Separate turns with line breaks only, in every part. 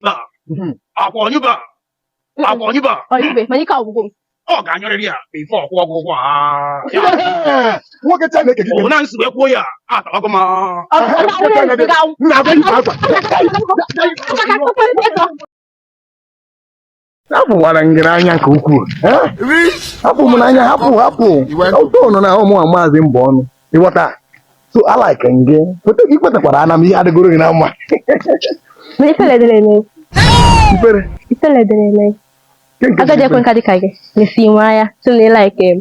ba hmm. ọkwa ọ nyụbe ọkwa ọ nyụbe ọ nyụbe mana ikpe ọgwụgwụ m ọ ga-anyụrịrị ya before ọ kwụọ gị ụgwọ nwoke Chineke eke na nsi wee kwuo ya atawago m na-abụ hapụwara m gị n'anya nke ukwuu eh? hapụ m n'anya hapụ hapụ ụtọnụ na ụmụ a maazị mbọ ọnụ ịghọta so alike gị foto gị kwetakwara ana m ihe adịgoro gị na mma Mana ifele dịrị eme. Ifele? Ifele dịrị eme. Agadi ekwe nka dịka gị. Mesi nwa ya, sị na ị like m.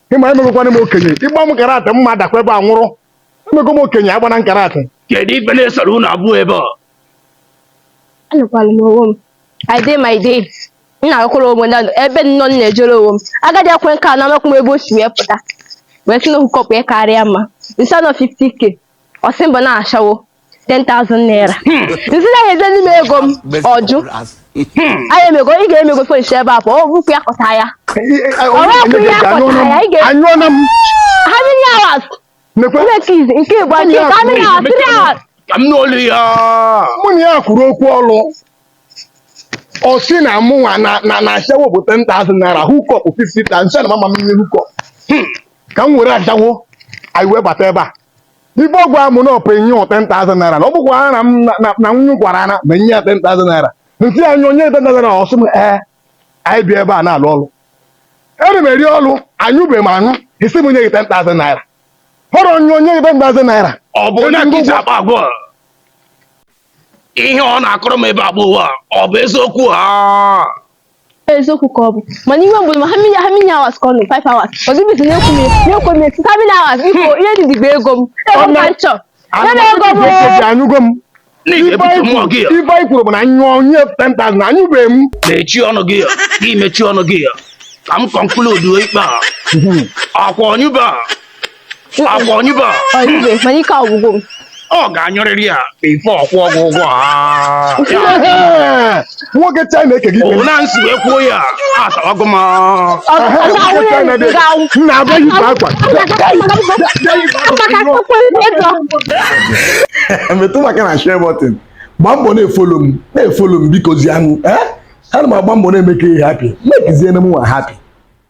ị ma ị nụgokwanụ m okenye ị gba m karate m ma-adakwa ebe a nwụrụ ị nụgo m okenye agbana m karate kedu ife na-esere unu abụọ ebe a anọkwara m onwe m i dey my dey m na-agụkwara onwe m na- ebe m nọ m na-ejere onwe m agadi ekwe nka a amakwa m ebe o si wee pụta wee sị na ọ hookup ya karịa mma m sị ya na ọ 50k ọ sị m bụ na ashawo 10,000 naira m sị na ya ezeli m ego m ọ jụ anyị emego ị ga-emego finish ebe a pụọ ọ bụkwa ya kpọta ya anyụọna m how many hours mekwe Please, nke bụ ake ka amị na three hours ka m n'olu ya mụ na ya kwuru okwu ọlụ ọ sị na mụnwa na na na ashawo bụ 10,000 naira hookup 50 ta m sị na mama m ihe hookup ka m were ashawo anyị wee bata ebe a ife ọ gwara m na ọ ga-enye ọ 10,000 naira na ọ bụkwa na m na- na- na nwunye gwara ya na m ma-enye ya 10,000 naira m sị ya nye onye 10,000 naira ọ sị m ee anyị bịa ebe a na-alụ ọrụ eri m eri ọrụ anyụbeghị m anyụ ị sị m nye gị 10,000 naira ọ bụ onye nye gị 10,000 naira ọ bụ onye ka i ji akpa agwa ihe ọ na-akọrọ m ebe a bụ ụwa ọ bụ eziokwu ha eziokwu ka ọ bụ mana iwe mgbe ma how many how many hours ka ọ nọ 5 hours ọzọ ife m na-ekwu m na-ekwu m etu how many hours biko ihe dị dịgba ego m ego m ka m chọrọ ya na ego m oo. anyụgo m n'ihi ebute mmụọ gị ya ife anyị kwuru bụ na m nyụọ onye 10,000 na anyụbeghị m mechie ọnụ gị ya gị mechie ọnụ gị ya ka m conclude ikpe a ọkwa ọ nyụbe ọkwa ọ nyụbe ọ nyụbe mana ikpe ọgwụgwụ m ọ ga-anyụrịrị ya before ọ kwụọ gị ụgwọ a nwoke Chineke ekpe gị ikpe na nsi wee kwuo ya asawago m nwoke china dị m na-agwa ya ibe akwa metụ m aka na share button gbaa mbọ na-efollow m na-efollow m biko zianụ ee ana m agba mbọ na-eme ka ị happy mekiziere m nwa happy